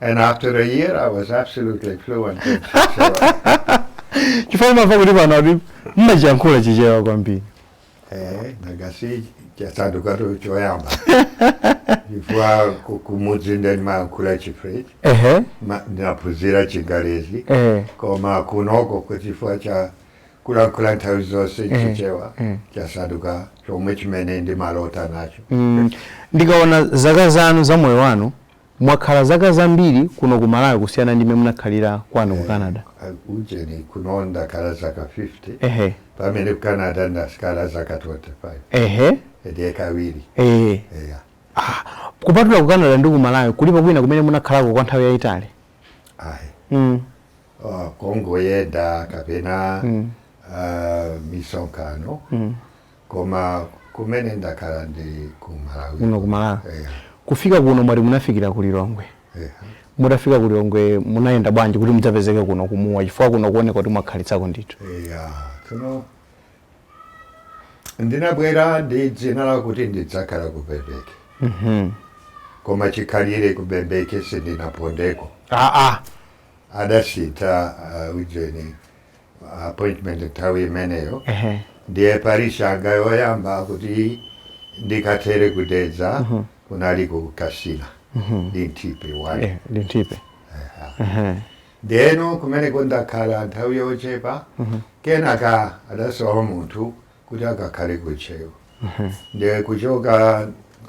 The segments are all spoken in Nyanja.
and after a year i was absolutely fluent in Chichewa. chifukwa ndimamva kuti pano kuti mmachiyankhula chichewa kwambiri eh ngati chasandukato choyamba chifukwa ku- kumudzi ndimayankhula chifrench ehe ma- ndinaphunzira chingalezi ehe koma kunoko kuchifukwa cha kulankhula nthawi zonse Eh, chichewa eh. chasanduka chomwe, chimene ndimalota nacho Mm, ndikaona zaka zanu za moyo wanu Mwakhala zaka zambiri kuno ku Malawi kusiyana ndi m'mene munakhalira kwanu ku Canada. Eh, ujeni kuno ndakhala zaka 50 ehe pamene ku Canada ndakhala zaka 25 ehe ndiye kawiri eh eya. Ah, kupatula ku Canada ndi ku Malawi kulipo kwina kumene munakhalako kwa nthawi yayitali? Ayi. Mm. Uh, kongoyenda kapena mm. uh, misonkhano mm. koma kumene ndakhala ndi ku Malawi kuno ku Malawi yeah. kufika kuno mwati munafikira ku Lilongwe yeah. mutafika ku Lilongwe munayenda bwanji kuti mudzapezeke kuno ku Mua chifukwa kuno kuoneka kuti mwakhalitsako ndithu yeah. tsono ndinabwera ndi dzina lakuti ndidzakhala ku Bembeke mm -hmm. koma chikhalire ku Bembeke sindinapondeko ah, ah. adasintha uh, ujeni appointment nthawi imeneyo Ehe. ndiye parish yanga yoyamba kuti ndikathere ku Dedza kunali ku Kasina Linthipe 1 Eh, Linthipe Ehe. ndeno kumeneko ndakhala nthawi yochepa kenaka adasowa munthu kuti akakhale ku Ntcheu ndiye kuchoka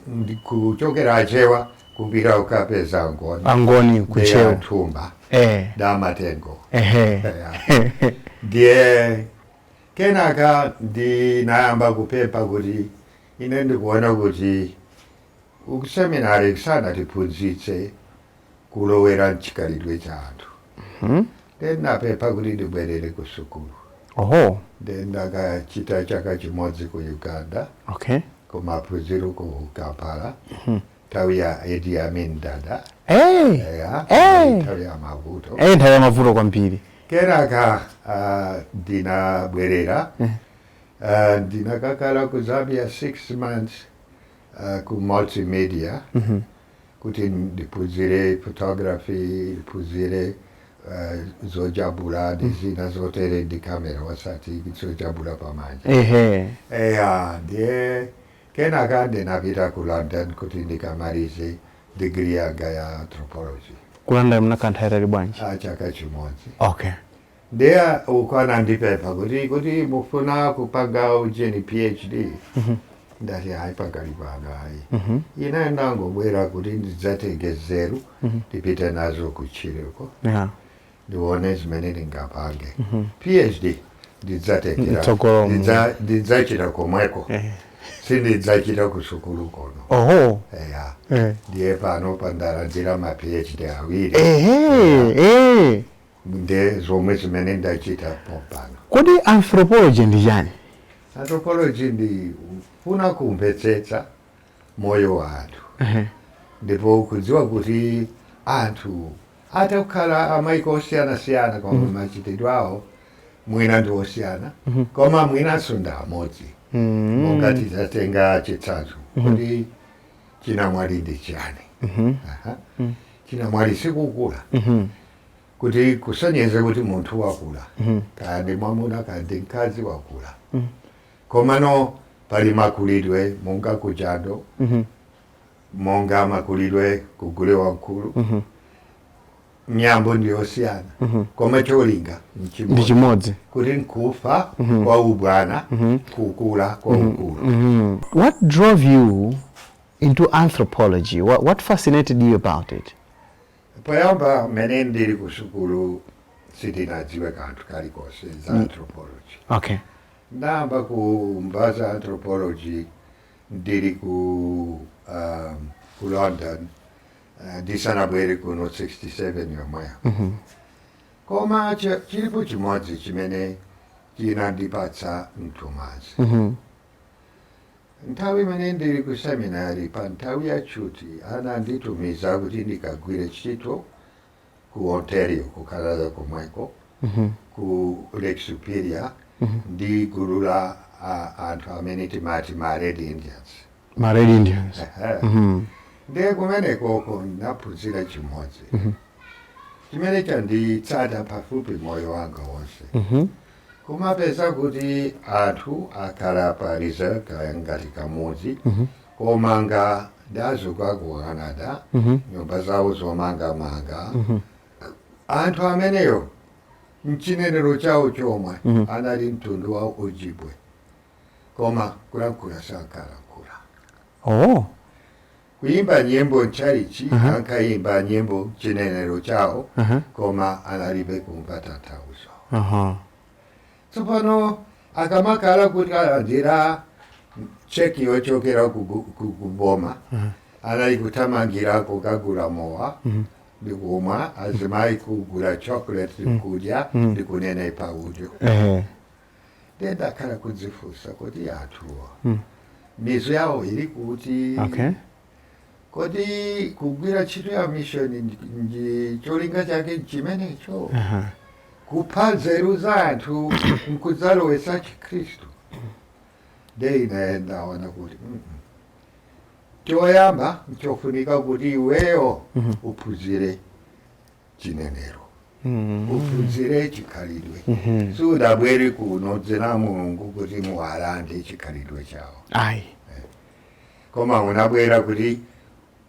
ndi- kuchokera achewa kupita kukapeza angoni angoni ku Ntcheu Antumba eh damatengo ehe ndiye kenaka ndinayamba kupempha kuti ine ndikuona kuti kuseminari sanatiphunzitse kulowera mchikhalidwe cha anthu mm -hmm. ndinapempha kuti ndibwerere ku sukulu oho ndinakachita chaka chimodzi ku Uganda okay kumaphunziro ku Kampala mm -hmm. nthawi ya Idi Amin Dada hey. yeah, hey. nthawi ya mavuto hey, nthawi ya mavuto kwambiri kenaka uh, ndinabwerera mm -hmm. Eh, ndinakakhala ku Zambia six months uh, ku multimedia mm -hmm. kuti ndiphunzire photography ndiphunzire eh, zojabula ndi zina zotere ndi kamera osati zojabula pamanja ehe eya ndiye kenaka ndinapita ku London kuti ndikamalize digiri yanga ya anthropology ku London munakakhala nthawi yaitali bwanji a chaka chimodzi okay Ndiye uko anandipempha kuti kuti mufuna kupanga ujeni PhD. Ndati hayi pakali pano hayi. Ine ndangobwera kuti ndidzatenge nzeru ndipite nazo kutchire uko Yeah. ndione zimene ndingapange. PhD ndidzatengera mtsogolo mu- ndidza- ndidzachita komweko Eh. sindidzachita kusukulu kono. Oho. Eya. Eh. Ndiye pano pandalandira ma PhD awiri. Ehe. Eh. Nde zomwe zimene ndachita pompano. Kodi Anthropology ndi chani? Anthropology ndi kufuna kumvetsetsa moyo wa anthu ndipo kudziwa kuti anthu atha kukhala a maiko osiyanasiyana koma machitidwe awo mwina ndi osiyana koma mwinanso ndi amodzi. Monga titatenga chitsanzo, kodi chinamwali ndi chani? Chinamwali si kukula. kuti kusonyeze kuti munthu wakula kaya ndi mwamuna kaya ndi mkazi wakula komano pali makulidwe monga kujando monga makulidwe ku Gule Wamkulu miyambo ndi yosiyana koma cholinga ndi chimodzi kuti nkufa kwa ubwana kukula kwa ukulu Mm. What drove you into anthropology? What, what fascinated you about it? Poyamba mmene ndili kusukulu sindinadziwe kanthu kalikonse za anthropology. Okay. Ndayamba kumva za anthropology ndili ku um, ku London uh, ndisanabwere kuno 67 yomweyo. Koma ch- chilipo chimodzi chimene chinandipatsa mthumanzi. Nthawi imene ndili ku seminari pa nthawi ya tchuti ananditumiza kuti ndikagwire ntchito ku Ontario, ku Canada komweko, ku Lake Superior ndi gulu la ah, anthu amene timati ma Red Indians. ma red indians Ehe. Ndiye kumenekoko ndinaphunzira chimodzi chimene chanditsata pafupi moyo wanga wonse. Kumapeza kuti anthu akhala pa reserve kaya ngati kamudzi komanga ndi azungu a ku Canada nyumba zawo zomangamanga anthu amenewo mchinenero chawo chomwe anali mtundu wa Ojibwe koma kulankhula sankalankhula Oh, Kuimba nyimbo mtchalitchi Aha. ankaimba nyimbo mchinenero chawo Aha. koma analibe kumva tanthauzo Aha. tsopano akamakhala kuti alandira cheki yochokera ku bu- ku- ku boma anali kuthamangira kukagula mowa ndi kumwa azimayi kugula chocolate kudya ndi kunenepa udyo Ehe. ndiye ndakhala kudzifunsa kuti anthuwa mm. mizu yawo ili kuti okay. kodi kugwira ntchito ya mishoni ndi cholinga chake nchimenecho uh -huh. kupha nzeru za anthu nkudzalowetsa chikhristu nde ine ndaona kuti mm -mm choyamba nchofunika kuti iweyo mhm. uphunzire chinenero uphunzire chikhalidwe sudabwere kuno mdzina la mulungu kuti muwalande chikhalidwe chawo ayi koma unabwera kuti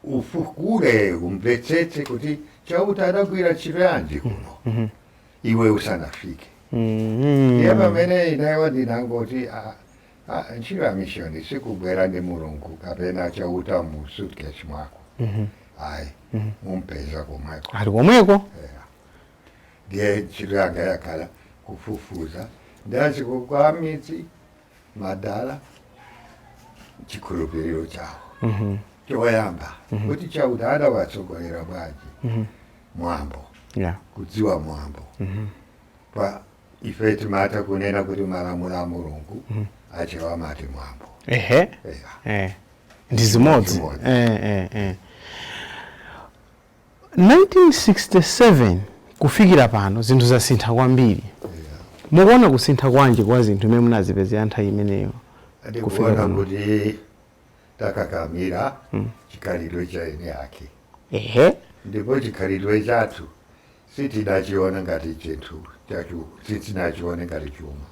ufukule umvetsetse kuti chauta adagwira ntchito yanji kuno iwe usanafike Mm. ndiye pamene ineyo ndinangoti "Ah, Ha, ntchito ya mishoni sikubwera ndi mulungu kapena chauta mu suitcase mwako ayi mumpeza komweko ali komweko Eya. ndiye ntchito yanga yakhala kufufuza mdziko kwa mizidala chikhulupiriro chawo choyamba kuti chauta adawatsogolera bwanji mwambo Eya kudziwa mwambo pa ife timatha kunena kuti malamulo a mulungu achewa amati mwambo ehe Eya. eh. ndi zimodzi Zimodzi. eh, eh, eh. 1967 kufikira pano zinthu zasintha kwambiri mukuona kusintha kwanji kwa zinthu mmene munazipezera nthawi imeneyo kufika ndikuona pano kuti takakamira mm. chikhalidwe cha eni ake ehe ndipo chikhalidwe chathu sitinachiona ngati chinthu chachu sitinachiona ngati chuma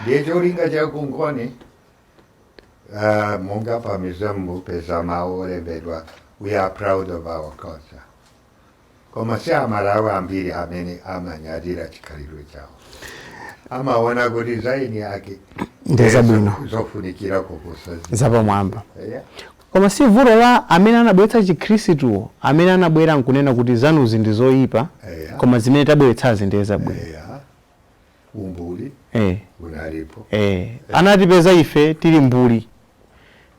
ndiye cholinga cha Kungoni uh, ah, monga pa museum mupeza mawu olembedwa we are proud of our culture koma si amalawi ambiri amene amanyadira chikhalidwe chawo amaona kuti za eni ake Ndi zabwino. zofunikira kuposa zina. zapamwamba Yeah. koma si vuto la amene anabweretsa chikhristuwo amene anabwera nkunena kuti zanuzi ndi zoyipa Eya. koma zimene tabweretsazi ndiye zabwino Yeah. umbuli eh, unalipo eh. anatipeza ife tili mbuli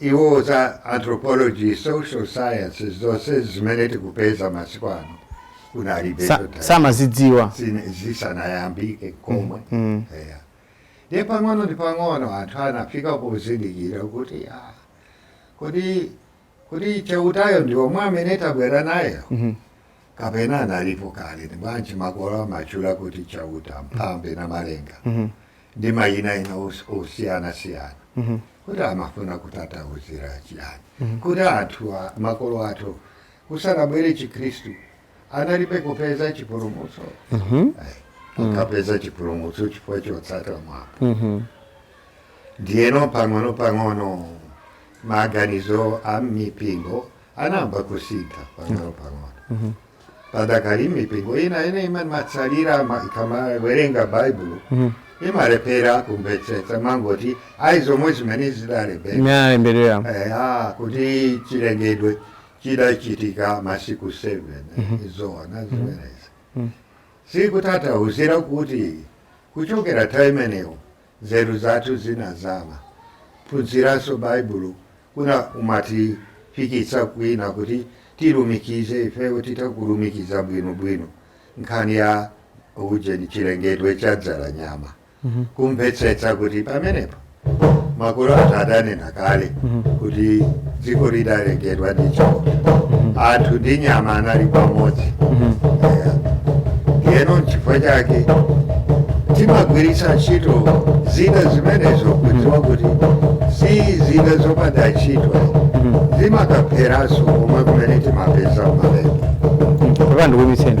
Iwo za anthropology, social sciences, zonsezi zimene tikupeza masiku ano kunalibe zotani. Sa- samazidziwa Zine- zisanayambike komwe mm. Eya. ndiye pang'ono ndi pang'ono anthu anafika pozindikira kuti ah, kodi kodi chautayo ndi yemwe amene tabwera naye kapena analipo kale ndi bwanji makolo amatchula kuti chauta mphambe na Namalenga ndi mayina ena os- osiyanasiyana kuti amafuna kutanthauzira chiyani kuti anthu a- makolo athu chisanabwere chikhristu analibe kupeza chipulumutso Eh, akapeza chipulumutso chifukwa chotsata mwambo ndiyeno pang'ono pang'ono maganizo a mipingo anayamba kusintha pang'ono pang'ono padakali mipingo ina imene imatsalira ma- ikamawerenga baibulo imalephera kumvetsetsa amangoti ayi zomwe zimene zidalembedwa imealemberera eya kuti chilengedwe chidachitika masiku 7 n'zoona zimenezi sikutatauzira kuti kuchokera nthawi imeneyo Nzeru zathu zinazama. Kuphunziranso Baibulo kuna kumatifikitsa kwina kuti tilumikize ifeyo titha kulumikiza bwinobwino nkhani ya ujeni chilengedwe cha Dzalanyama kumvetsetsa kuti pamenepo makolo athu adanena kale kuti dziko lidalengedwa ndi Chauta anthu ndi nyama anali pamodzi Eya. ndiyeno nchifukwa chake timagwiritsa ntchito zina zimenezo kudziwa kuti si zina zopanda ntchito zimakatheranso komwe kumene timapeza malemba apa ndikuimitseni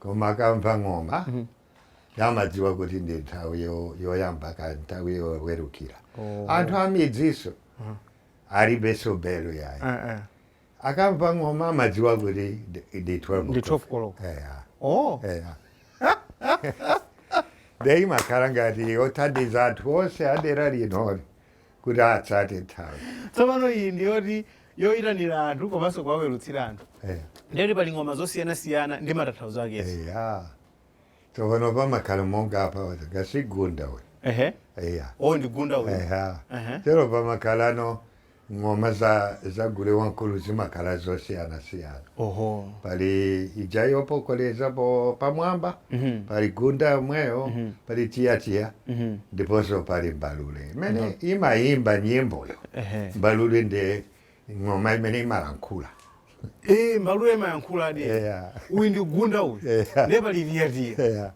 Koma akamva ng'oma amadziwa kuti ndi nthawi yoyamba kapena nthawi yowerukila. Oh. Anthu amidzinso alibenso belu yayi. Eh, eh. Akamva ng'oma amadziwa kuti ndi 12 ndi 12 koloko. Eya. Oh. Eya. Nde imakhala ngati yothandiza anthu onse adera linoli. kuti atsate nthawi tsopano iyi ndi yoti yoyitanira anthu komanso kuwawerutsila anthu Eh, ndiye kuti pali ng'oma zosiyanasiyana ndi matanthauzo ake eya tsopano pamakhala monga apa ka si gunda uyu ehe eya o ndi gunda uyu eya Ehe. tero pamakhalano ng'oma za za gule wamkulu zimakhala zosiyanasiyana Oho. pali ija yopokolezapo pamwamba Mhm. pali gunda yomweyo Mhm. pali tiyatia Mhm. ndiponso pali mbalule imene imayimba nyimboyo Ehe. mbalule ndi ng'oma imene imalankhula Eh, mbalule imayankhula di. Yeah. Uyu ndi gunda uyu. Yeah. Ndiye pali tiyatia. Yeah.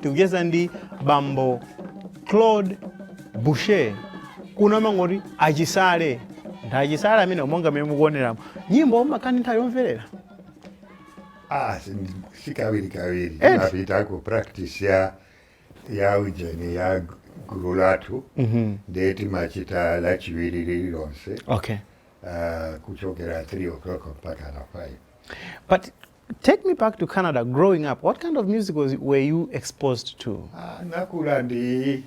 tikucheza ndi bambo claude boucher kuno amangoti achisale ndi achisale amene monga mmene mukuoneramo nyimbo mumakhala ndi nthawi yomverera Ah, sin- si kawiri kawiri Eh. napita ku practice ya ya ujeni ya gu- gulu lathu ndiye timachita lachiwiri lililonse okay ah, kuchokera 3 o'clock mpaka na 5 Take me back to Canada growing up. What kind of music was, were you exposed to? Ah, nakula ndi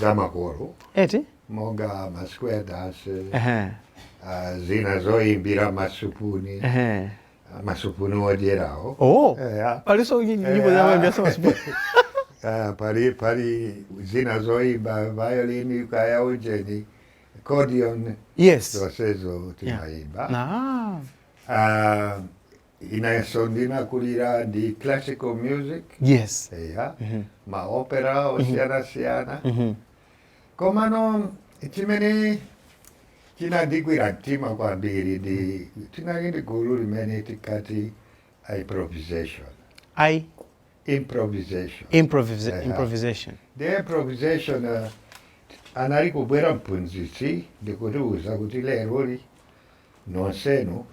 zamakolo Eti? monga ma square dance Uh-huh. ah, zina zoyimbira masupuni Uh-huh. ah, masupuni odyerawo Oh. Eya. Paliso nyimbo Eh, za ah. wembe sasa sipo. Ah, pali pali zina zoyimba violin kaya ujeni accordion Yes. zosezo timayimba Ah. Uh, inenso ndinakulira ndi classical music yes eya mm -hmm. maopera osiyanasiyana mm -hmm. komano chimene chinandigwira mtima kwambiri ndi tinali ndi gulu limene tikati improvisation i improvisation improvisa Eya. improvisation the improvisation uh, anali kubwera mphunzitsi ndikutiuza kuti leroli nonsenu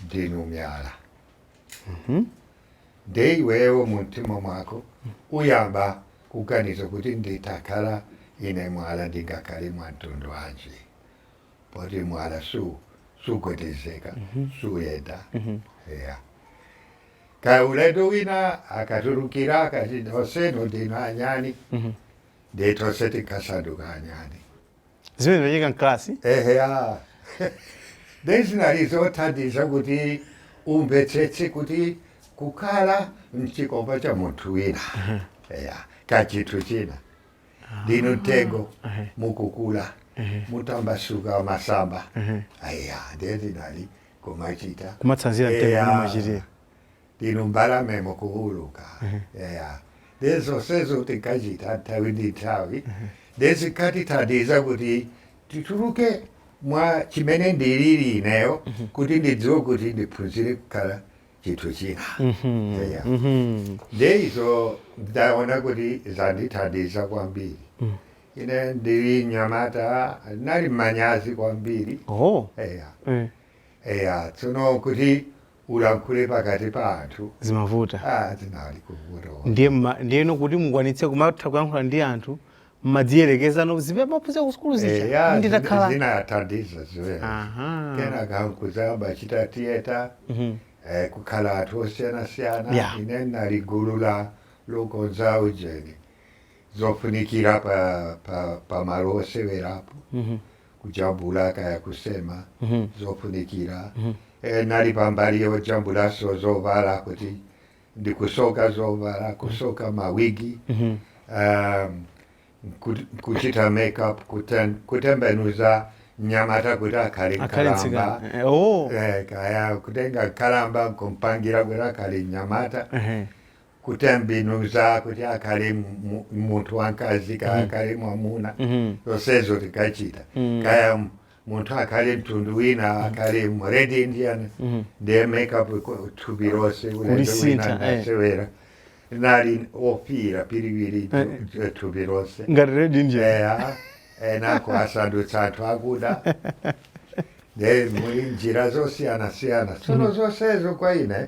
ndinu myala nde iweyo mu mtima mwako uyamba kuganiza kuti nditakhala ine mwala ndingakhale mwa mtundu wanji poti mwala su sugwedezeka suyenda eya. kaya ulendo wina akatulukira akati nonsenu ndinu anyani nde tonse tikasanduka anyani zimene zimachitika mkalasi eheya nde zinali zothandiza kuti umvetsetse kuti kukhala mchikopa cha munthu wina eya kaya chinthu china ndinu mtengo ehe. mukukula mukutambasuka masamba eya nde zinali kumachita kumatsanzira mtengo Eya. umene umachitira Ndinu mbalame mukuwuluka. Eya. Ndiye zonsezo tinkachita nthawi ndi nthawi. Ndiye zinkatithandiza kuti tituluke mwa chimene ndilili ineyo kuti ndidziwe kuti ndiphunzire kukhala chinthu china. Eya. Ndiye izo ndaona kuti zandithandiza kwambiri. Ine ndili mnyamata ndinali manyazi kwambiri. Oho. Eya. Eya. Tsono kuti ulankhule pakati pa anthu zimavuta ah, zinali kuvuta ndiye mma- ndiyeno kuti mukwanitse kumatha kuyankhula ndi anthu mmadziyerekezano zimene mmaphunzira ku sukulu zija eya nditakhala zinathandiza zimenezi Aha. kenaka nkuzayamba chita theatre Mhm. eh, kukhala anthu osiyanasiyana Yeah. ine ndinali gulu la lokonza ujeni zofunikira pa, pa, pa malo osewerapo kujambula kaya kusema zofunikira e, nali pambali yojambulanso zovala kuti ndikusoka zovala kusoka mawigi um, ku- kuchita makeup kuten- kutembenuza mnyamata kuti akhale akhale nkalamba mtsikana Eh, oh. Eh, kaya kutenga nkalamba kumpangira kuti akhale mnyamata Ehe. kutembenuza kuti akhale mu- mu- munthu wamkazi kaya akhale mwamuna Mhm. zonsezo tikachita Mm. kaya m- munthu akhale mtundu wina akhale mu red indian Mhm. ndiye makeup ku- thupi lonse ulendo wina Kulisintha, eh. ndasewera nali ofiira piriwiri Eh, tu- thupi lonse ngati red indian eya kenako asandutsa anthu akuda nde muli njira zosiyanasiyana tsono zonsezo kwa ine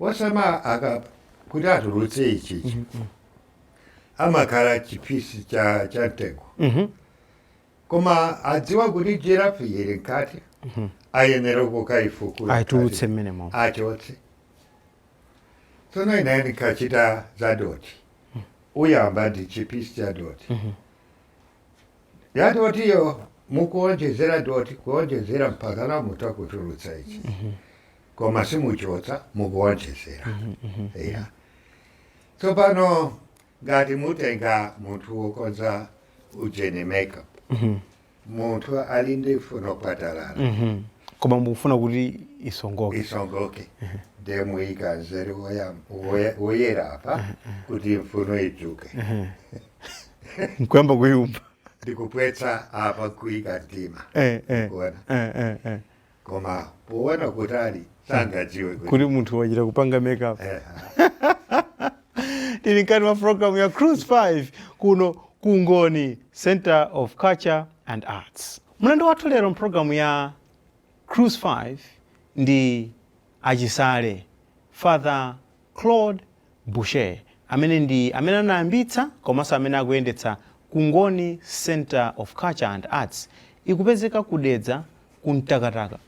osema aka kuti atulutse ichichi amakhala chipisi cha cha mtengo koma adziwa kuti jirafu yili mkati ayenera kukaifukula aitulutse mkati. mmenemo achotse tsono ine ndikachita za doti uyamba ndi chipisi cha doti ya dotiyo mukuonjezera doti kuonjezera mpakana mutha kutulutsa ichi koma simuchotsa mukuonjezera ya tsopano ngati mutenga munthu wokonza ujeni makeup munthu ali ndi mfuno phwatalala koma mukufuna kuti isongoke isongoke ndiye muyika mzere woyam- woye- woyera apa kuti mfuno idzuke nkuyamba kuumba ndikuphwetsa apa kuyika mdima eh, eh, kuona eh, eh, eh. koma poona kutali sangadziwe kuti kuti munthu wachita kupanga makeup Eh, tili mkati mwa programu ya cruise 5 kuno Kungoni Centre of culture and arts mlendo wathu lero mpulogalamu ya cruise 5 ndi achisale father Claude Boucher, amene ndi amene anayambitsa komanso amene akuyendetsa Kungoni Centre of Culture and Arts, ikupezeka ku Dedza ku Mtakataka,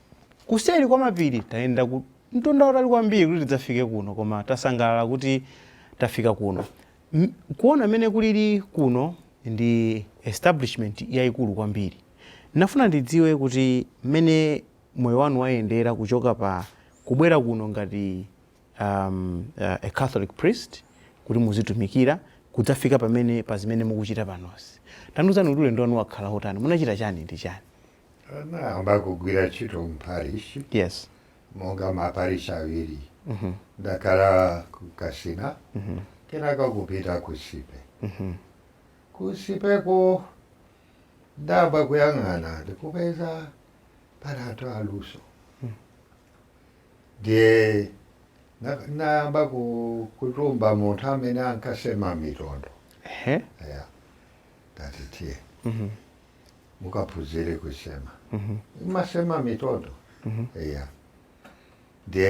kuseri kwa mapiri. Tayenda mtunda wautali kwambiri kuti tidzafike kuno koma tasangalala kuti tafika kuno. Kuona mmene kulili kuno ndi establishment yaikulu kwambiri. Ndinafuna ndidziwe kuti mmene moyo wanu wayendera kuchoka pa kubwera kuno ngati. um, uh, a Catholic priest kuti muzitumikira kudzafika pamene pa zimene mukuchita panozi. Tandiuzani kuti ulendo wanu wakhala wotani, munachita chani ndi chani? Nayamba kugwira ntchito mparish. Yes. Monga maparish awiri. Mm -hmm. Ndakhala ku Kasina. Mm -hmm. Kenaka kupita ku Nsipe. Mm -hmm. Ku Nsipeko ndayamba kuyang'ana ndikupeza pali anthu aluso. Mm -hmm. Ndiye nayamba kutuma munthu amene ankasema mitondo ya ndati tiye mhm. mukaphunzire kusema mhm. amasema mitondo mhm. ya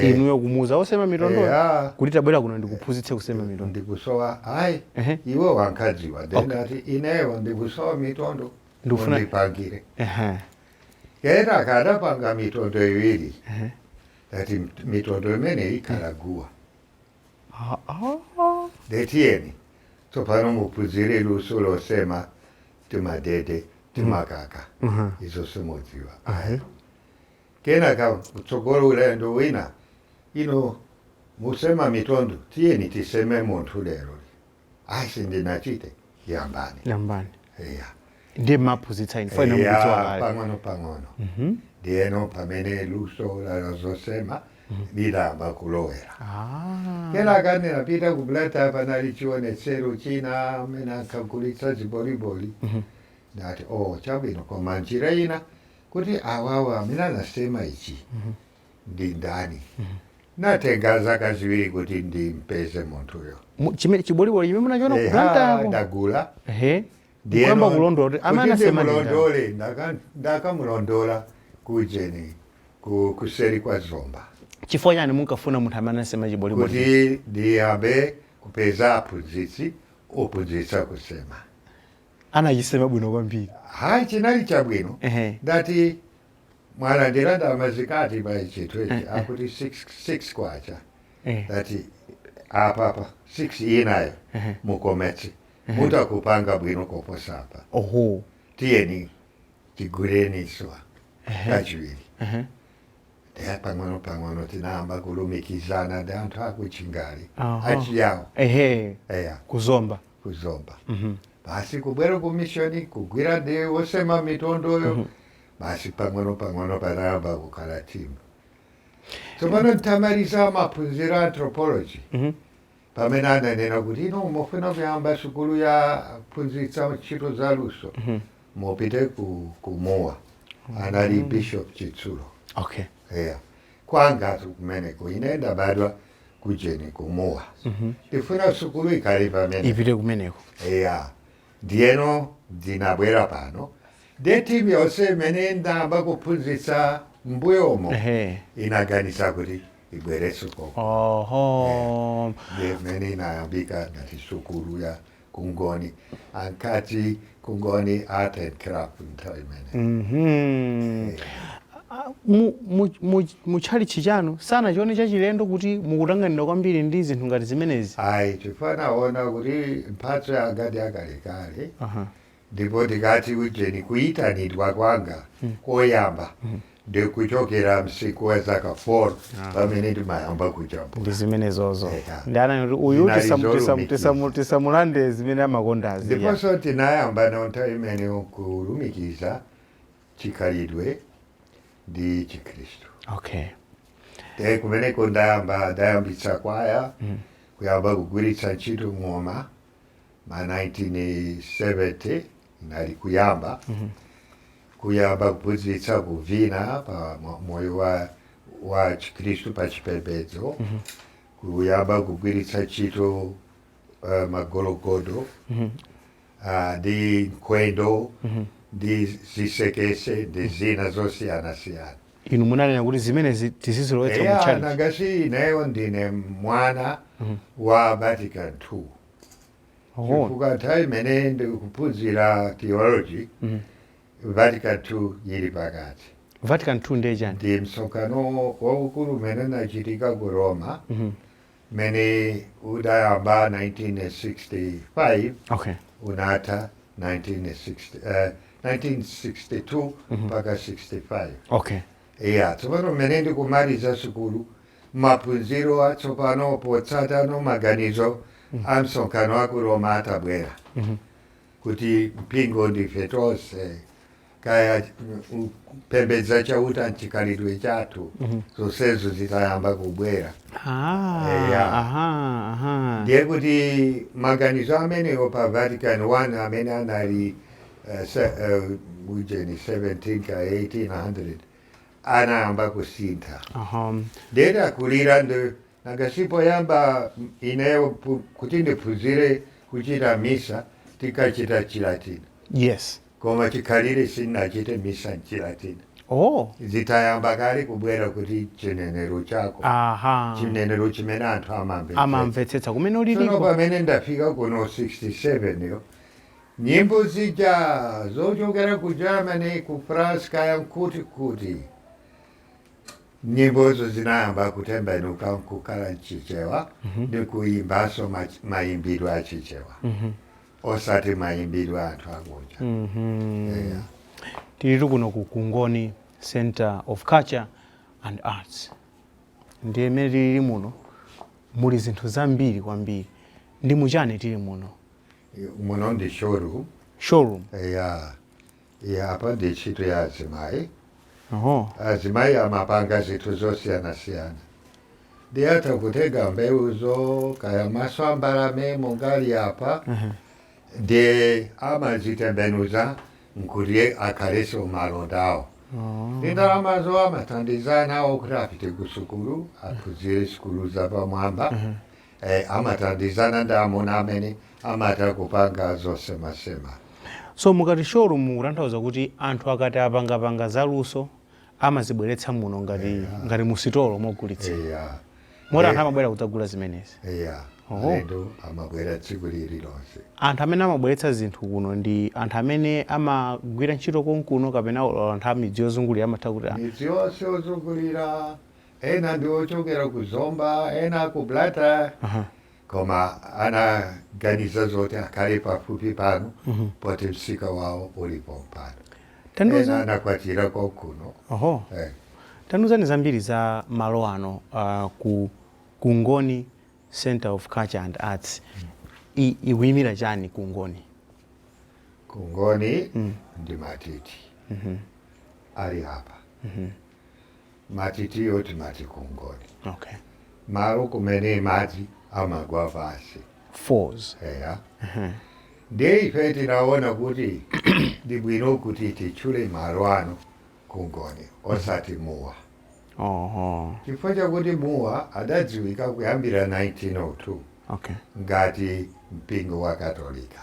inuyo kumuuza osema mitondo yeah. kuti tabwera kuno ndikuphunzitse kusema mitondo ndikusowa ayi uh -huh. iwo ankadziwa then okay. ndati ineyo ndikusowa mitondo ndikufuna undipangire uh -huh. kenaka atapanga mitondo iwiri ndati mitondo imeneyi ikhala guwa Ah, ah. nde tiyeni tsopano muphunzire luso losema timadede timakaka Mhm. izo simudziwa Ahe. kenaka kutsogolo ulendo wina inu musema mitondo tiyeni tiseme munthu lero ayi sindinachite yambani yambani eya ndiye mumaphunzitsa inu Father Eya, mukudziwa kale pang'ono pang'ono ndiyeno pamene luso la zosema lidayamba kulowera Ah, kenaka ndinapita ku Blantyre panali chionetsero china amene ankagulitsa ziboliboli ndati o chabwino koma njira ina kuti awawa amene anasema ichi ndi ndani natenga zaka ziwiri kuti ndimpeze munthuyo Mu- chimene chiboliboli chimene munachiona ku Eha, Blantyreko ndagula ehe Ndiyeno, kuyamba kulondola kuti amene kuti anasema ndi ndani? ndimulondole, ndaka- ndakamulondola kujeni ku- kuseri kwa Zomba chifukwa chani munkafuna munthu amene anasema chiboliboli kuti ndiyambe kupeza aphunzitsi ophunzitsa kusema anachisema bwino kwambiri hayi chinali chabwino Ehe. ndati mwalandira ndalama zingati pa chinthu ichi Eh, eh. akuti 6 kwacha eh, ndati apapa 6 inayo Ehe. mukometse mutha kupanga bwino koposa apa oho tiyeni tigulenso kachiwiri ehe, Eya, pang'ono pang'ono tinayamba kulumikizana ndi anthu aku Chingale Aha. achiyawo ehe eya ku Zomba ku Zomba Mhm. basi kubwera ku mishoni kugwira ndi osema mitondoyo basi pang'ono pang'ono panayamba kukhala timu tsopano ntamaliza maphunziro a anthropology mhm. pamene ananena kuti inu mufuna kuyamba sukulu yophunzitsa ntchito za luso mhm. mupite ku, ku Mua mhm. anali Bishop Chitsulo okay. yeah. kwanga kumeneko ine ndabadwa kujeni ku Mua mm -hmm. ndifuna sukulu ikhale pamene ipite kumeneko yeah. Ndiyeno ndinabwera pano, ndiye timu yonse imene ndinayamba kuphunzitsa m'mbuyomo Ehe. inaganiza kuti ibwerenso konko. Oho. Ndiye imene inayambika ngati sukulu ya Kungoni ankati Kungoni Art and Craft nthawi imene. Mhm. mu tchalitchi chanu sanachione chachilendo kuti mukutanganidwa kwambiri ndi zinthu ngati zimenezi? Ayi, chifukwa anaona kuti mphatso yanga ndi yakalekale ndipo tikati ujeni kuyitanidwa kwanga hmm. koyamba hmm. ndikuchokera msinkhu wa zaka 4 ah. pamene ndimayamba kujambula ndi zimenezozo ndiye anati kuti uyu tisamulande zimene amakondazi ndiponso tinayamba nawo nthawi imeneyo kulumikiza chikhalidwe ndi chikhristu okay e kumeneko ndayamba ndayambitsa kwaya mm. kuyamba kugwiritsa ntchito ng'oma ma 1970 nali kuyamba mm -hmm. kuyamba kuphunzitsa kuvina pa moyo wa, wa chikhristu pa chipembedzo mm -hmm. kuyamba kugwiritsa ntchito uh, magologodo mm -hmm. ndi nkhwendo ndi zisekese ndi zina zosiyanasiyana inu munanena kuti zimenezi tizizilowetsa mu eya tchalitchi nanga si ineyo ndine mwana wa Vatican II Oh, chifukwa nthawi imene ndikuphunzira theology Vatican II ili pakati Vatican 2 ndiye chani ndi msonkhano waukulu umene unachitika ku Roma mene udayamba 1965 okay unatha 1960, eh, 1962 mpaka 65 okay iya tsopano mmene ndikumaliza sukulu maphunziro atsopano potsata maganizo a msonkhano wa ku Roma atabwera kuti mpingo ndife tonse kaya kupembedza Chauta mchikhalidwe chathu mhm. zonsezo zitayamba kubwera ah, ndiye kuti maganizo amenewo pa Vatican 1 amene anali eh, eh, ujeni 17 ka 1800 anayamba kusintha ndiyeti akulira ndi nanga si poyamba ineyo kuti ndiphunzire kuchita misa tinkachita Chilatini yes Koma chikhalire sinachite misa m'Chilatin. Oh. Zitayamba kale kubwera kuti chinenero chako. Aha. Chinenero chimene anthu amamvetsetsa. Amamvetsetsa kumene uliliko. Tsono pamene ndafika kuno 67 yo nyimbo zija zochokera ku Germany, ku France kaya nkuti kuti nyimbozo zinayamba kutembenuka nkukhala mchichewa mm -hmm. ndikuyimbanso mayimbidwe achichewa mm -hmm. osati mayimbidwe a anthu akunja mm -hmm. yeah. tilitu kuno ku kungoni center of culture and arts ndiye mmene tilili muno muli zinthu zambiri kwambiri ndi muchani tili muno muno ndi showroom showroom yeah. Eya apa ndi ntchito ya azimayi. Azimayi amapanga zinthu zosiyanasiyana. Ndiye atha kutenga mbewuzo kaya maso a mbalame monga ali apa ndiye amazitembenuza nkuti akhaleso malonda awo. Ndi ndalamazo amathandiza nawo kuti apite kusukulu aphunzire sukulu zapamwamba. e Amathandizana ndi amuna amene amatha kupanga zosemasema. So mukati showroom mukutanthauza kuti anthu akati apangapanga za luso amazibweretsa muno ngati mu sitolo mogulitsira. Eya. Moti anthu Eh. amabwera kudzagula zimenezi. Eya. Oho. Alendo amabwera tsiku lililonse. Anthu amene amabweretsa zinthu kuno ndi anthu amene amagwira ntchito konkuno kapena olo anthu a midzi yozungulira amatha kuti ah, Midzi yonse yozungulira ena ndi ochokera ku zomba ena ku blata koma anaganiza zoti akhale pafupi pano poti msika wawo uli pompano ena anakwatira konkuno oho eh. tandiuzani zambiri za malo ano uh, ku kungoni center of culture and arts I- ikuyimira chani kungoni kungoni ndi matiti ali apa Matitiyo timati kungoni. Okay. Malo kumene madzi amagwa pansi. Falls. Eya. Ndiye ife tinaona kuti ndi bwino kuti titchule malo ano kungoni osati Mua. Oho. Chifukwa chakuti Mua adadziwika kuyambira 1902 Okay. ngati mpingo wa katolika.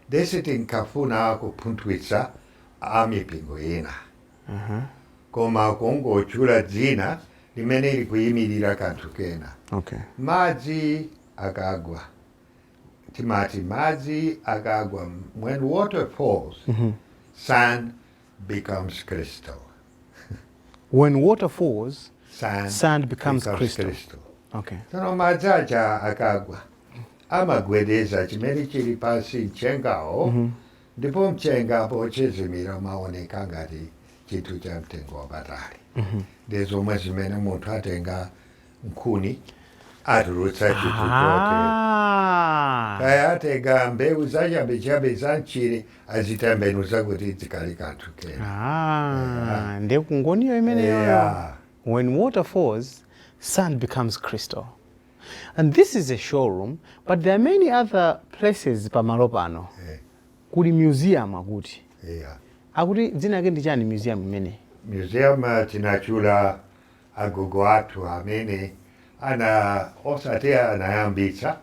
Ndiye sitinkafuna kupunthwitsa a mipingo ina. koma kungotchula dzina limene likuyimirira kanthu kena. Madzi akagwa, timati madzi akagwa, when water falls, sand becomes crystal. When water falls, sand becomes crystal. Tsono madzi aja akagwa, amagwedeza chimene chili pansi, mchengawo, Ndipo mchenga pochezimira umaoneka ngati chinthu cha mtengo wapatali. Ndi zomwe zimene munthu atenga nkhuni atulutsa chinthu chotere. Ah. Kaya atenga mbewu zachabechabe za mchire azitembenuza kuti zikhale kanthu kena. Ah. Ndiye Kungoniyo imeneyo. Eya. When water falls, sand becomes crystal. And this is a showroom but there are many other places pamalo pano eh. kuli museum akuti yeah. akuti dzina yake ndi chani museum imene museum uh, tinatchula agogo athu amene ana osati anayambitsa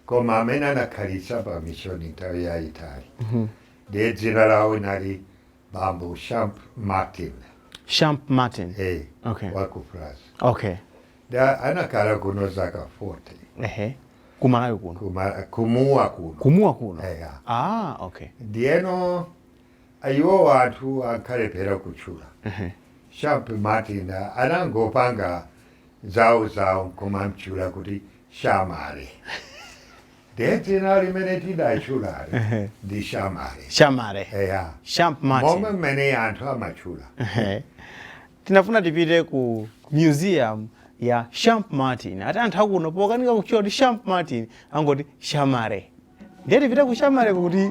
koma amene anakhalitsa pa mishoni nthawi yayitali mm -hmm. ndiye dzina lawo linali bambo Champmartin Champmartin hey, eh, okay. waku France okay Anakhala kuno zaka 40. Ehe. Ku Malawi kuno. Ku Ma- ku Mua kuno Ku Mua kuno. Eya. Ah, okay. ndiyeno iwo anthu ankalephera kutchula Ehe. Champmartin anangopanga zawo zawo nkumamtchula kuti Chamare Ndiye dzina limene tidatchulali Ehe. ndi Chamare Chamare eya Champ momwe martin mmene anthu amatchula Ehe. tinafuna tipite ku museum ya Champmartin ati anthu akuno pokanika kutchula kuti Champmartin angoti Chamare ndiye tipite ku Chamareko kuti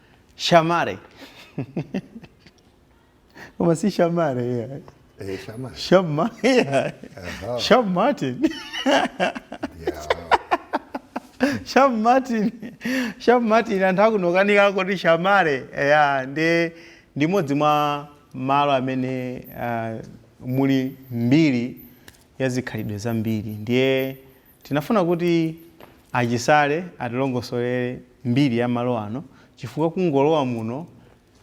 Shamare. Koma si Shamare yeah. Eh, Shamare. Shama yeah. Aha. Sham Martin. Yeah. Sham Martin. Sham Martin anthu akunokanika kuti Shamare yeah. ndi ndi modzi mwa malo amene uh, muli mbiri ya zikhalidwe zambiri ndiye Tinafuna kuti a Chisale atilongosolere mbiri ya malo ano chifukwa kungolowa muno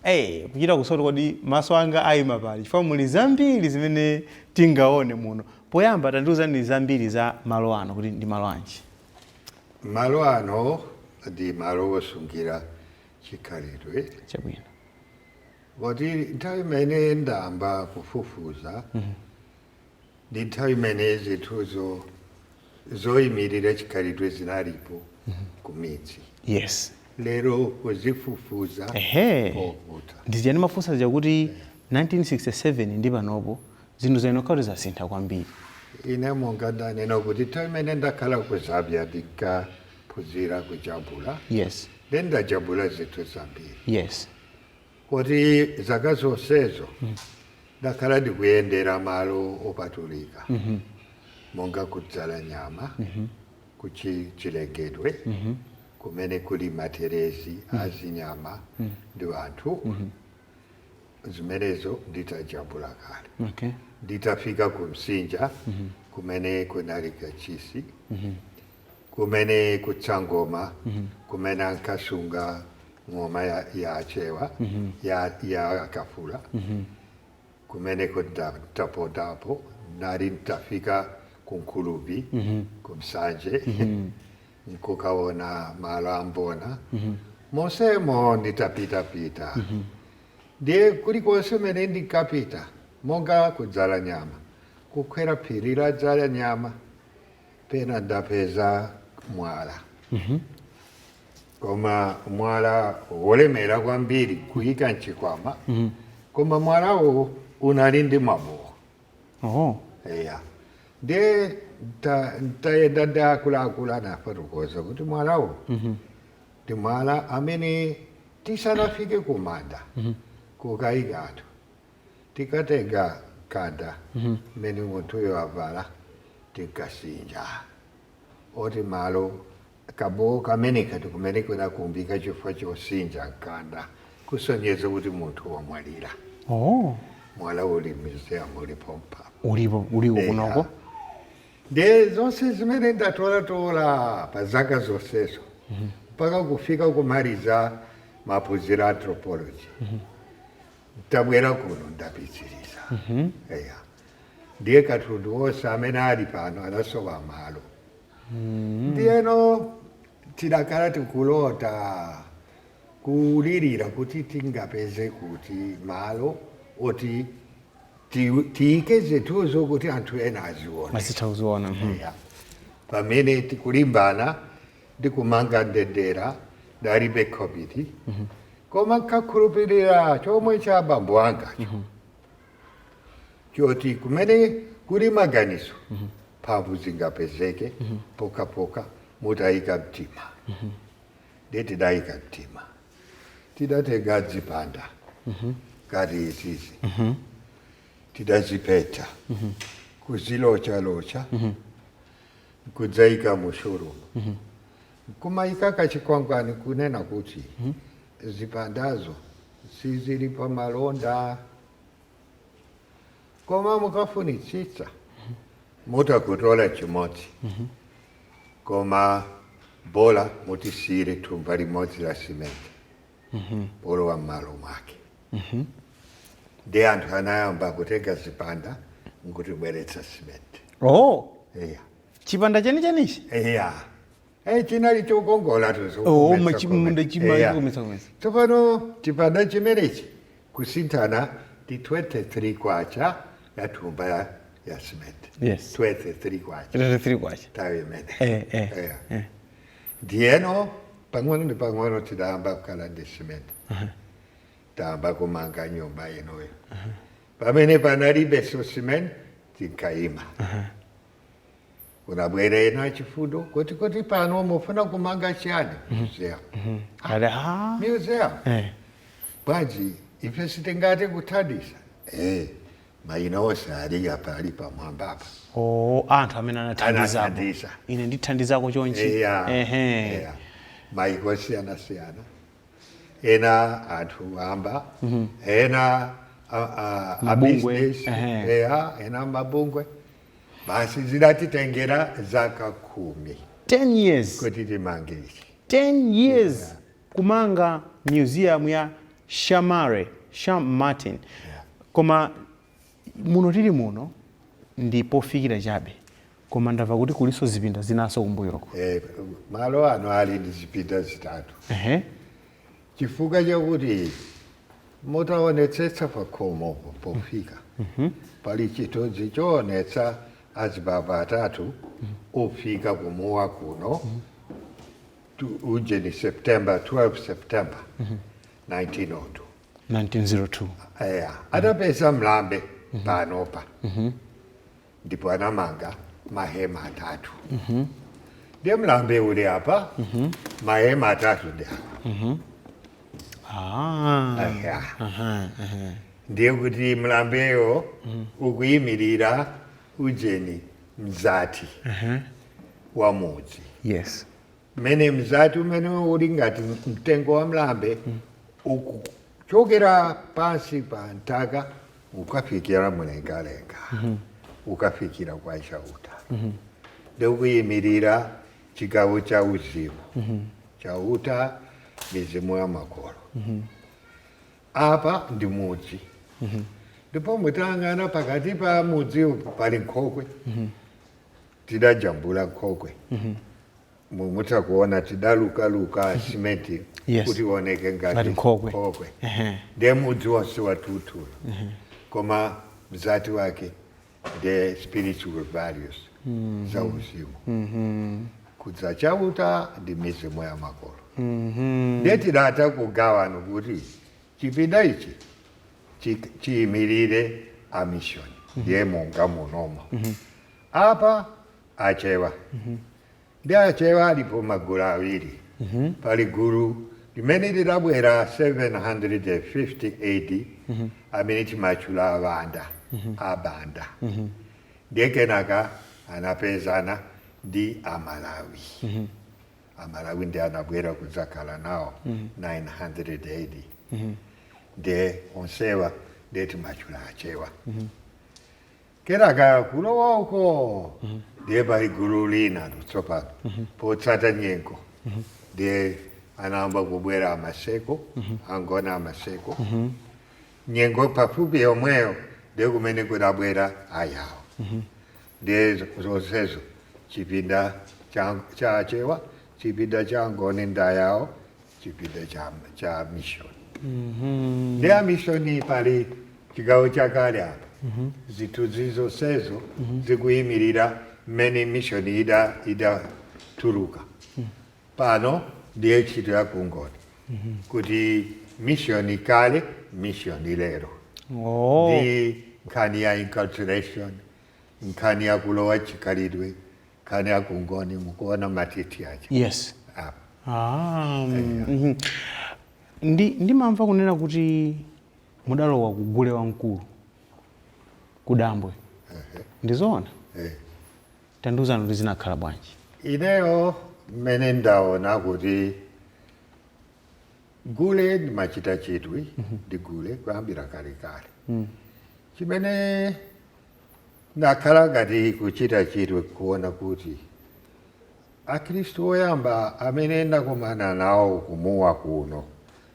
eeh kuchita kusowa kuti kodi maso anga aima pati chifukwa muli zambiri zimene tingaone muno. Poyamba tandiuzani zambiri za malo ano kuti ndi malo anji? Malo ano ndi malo osungira chikhalidwe Chabwino. poti nthawi imene ndayamba kufufuza ndi nthawi imene zinthuzo zoyimirira chikhalidwe zinalipo ku midzi yes lero kuzifufuza Ehe. nkovuta ndi zija ndimafunsa zija kuti 1967 ndi panopo zinthu zayenera kuti zasintha kwambiri ine monga ndanena kuti nthawi imene ndakhala ku Zambia ndinkaphunzira kujambula yes ndendajambula zinthu zambiri yes Poti zaka zonsezo ndakhala ndikuyendera malo opatulika monga ku Dzalanyama ku Chilengedwe kumene kuli materezi a zinyama ndi anthu, zimenezo nditajambula kale. Nditafika ku Msinja kumene kunali kachisi, kumene ku Tsang'oma kumene ankasunga ng'oma ya, ya Achewa ya, ya Akafula kumeneko ndapondapo nali ntafika ku Khulubvi ku Nsanje nkukaona malo a Mbona monsemo nditapitapita ndiye kulikonse kumene ndinkapita monga ku Dzalanyama kukwera phiri la Dzalanyama pena ndapeza mwala koma mwala wolemera kwambiri kuyika mchikwama koma mwalawo unali ndi mabowo oho eya nde nta- ntayenda ndi akuluakulu anafotokoza kuti mwalawo ndi mwala amene tisanafike kumanda kukayika anthu Tikatenga mkanda umene munthuyo wavala tinkasinja oti malo kabowo kameneka ndi kumene kanakumbika chifukwa chosinja mkanda kusonyeza kuti munthu wamwalira. Oh. Mwala uli museum uli pompa. Ulipo uliko kunoko. Ndiye zonse zimene ndatolatola pa zaka zonsezo mpaka kufika kumaliza maphunziro a anthropology. Ntabwera kuno ndapitiriza. Eya. Ndiye katundu onse amene ali pano anasowa malo. Ndiyeno tidakhala tikulota kulirira kuti tingapeze kuti malo oti ti- tiyike zinthuzo kuti anthu ena azione. Azitha kuziona. mhm. Eya. Pamene tikulimbana ndi kumanga ndendera ndalibe khobidi koma nkakhulupirira chomwe cha abambo angacho choti kumene kuli maganizo mphamvu zingapezeke pokapoka mutayika mtima ndiye tidayika mtima tidatenga zipanda ngati izizi tidazipeta kuzilochalocha nkudzaika mu showroom nkumaika kachikwangwani kunena kuti zipandazo sizili pa malonda koma mukafunitsitsa mutha kutola chimodzi koma bola mutisiyire thumba limodzi la simenti polowa m'malo mwake ndi anthu anayamba kutenga zipanda nkutibweretsa simenti oh iya chipanda chenichenichi iya Eh, chinali chokongola kumaso Oh, ma chimunda chima- chikukometsa- kometsa. tsopano chipanda chimenechi kusinthana ndi 23 kwacha ya thumba ya, ya simenti Yes. 23 kwacha 23 kwacha nthawi imene Eh, eh, Iya. eh. ndiyeno pang'ono ndi pang'ono tinayamba kukhala ndi simenti tayamba kumanga nyumba inoyo pamene panalibe simenti tinkayima kunabwera ena achifundo kuti kuti pano mufuna kumanga chani museum Ati, "Ah, museum eh, bwanji ife sitingate kuthandiza eh mayina onse ali apa ali pamwamba apa oh, anthu amene anathandizapo Anathandiza. ine ndithandizako chonchi Eya, Ehe. eya. maiko osiyanasiyana ena anthu amba ena a- a- a Mabungwe, business, ehe. eya, ena mabungwe basi zidatitengera zaka khumi 10 years kuti timange ichi 10 years kumanga museum ya Chamare Chamare koma Muno tili muno ndi pofikira chabe koma ndamva kuti kulinso zipinda zinanso kumbuyoko. Eeh malo ano ali ndi zipinda zitatu Ehe. chifukwa chakuti mutaonetsetsa pakhomo pofika pali chithunzi choonetsa azibambo atatu ofika ku Mua kuno ujeni September 12 September 1902. 1902 eya anapeza mlambe panopa ndipo anamanga mahema atatu ndiye mlambe uli apa mahema atatu ndi apa ah. Eya. Aha, aha. ndiye kuti mlambeyo ukuyimirira ujeni mzati wa mudzi yes mmene mzati umene uli ngati mtengo wa mlambe ukuchokera pansi pa nthaka ukafikira mlengalenga ukafikira kwa chauta ndiye ukuyimirira chigawo cha uzimu chauta mizimu ya makolo apa ndi mudzi ndipo mutayang'ana pakati pa mudzi pali nkhokwe tidajambula nkhokwe mu- mutha kuona tidalukaluka simenti Yes. kuti ioneke Ngati ngati nkhokwe. nkhokwe Ehe. ndiye mudzi wonse watutula koma mzati wake the spiritual values za uzimu kudza chauta ndi mizimu ya makolo ndiye tidata kugawana kuti chipinda ichi chi- chiyimirire amishoni ndiye monga munomo Apa Achewa ndiye Achewa alipo magulu awiri. Pali gulu limene lidabwera 750 A.D. amene timatchula Awanda, Abanda, ndiye kenaka anapezana ndi Amalawi. Amalawi ndiye anabwera kudzakhala nawo 900 A.D. ndiye onsewa ndiye timatchula Achewa. Kenaka kulowa uko ndiye pali gulu lina tsopano potsata nyengo ndiye anayamba kubwera amaseko angoni amaseko nyengo pafupi yomweyo ndiye kumene kudabwera ayawo ndiye zonsezo chipinda cha cha achewa chipinda cha angoni ndi ayawo chipinda cha, cha mission mm -hmm. ndiye mishoni pali chigawo chakale apa mm -hmm. zithunzi zonsezo mm -hmm. zikuyimirira mmene mishoni ida idatuluka mm -hmm. pano ndiye ntchito ya kungoni mm -hmm. kuti mishoni kale mishoni lero oh. ndi nkhani ya inculturation nkhani ya kulowa chikhalidwe nkhani ya kungoni mukuona matiti aja yes Ah, Ah, mhm. ndi ndimamva kunena kuti mudalowa kugule wamkulu kudambwe ndizoona eh. tandiuzani kuti zinakhala bwanji ineyo mmene ndaona kuti gule ndimachita chidwi ndi gule kuyambira kalekale chimene Ndakhala ngati kuchita chidwi kuona kuti Akhristu oyamba amene ndakumana nawo ku Mua kuno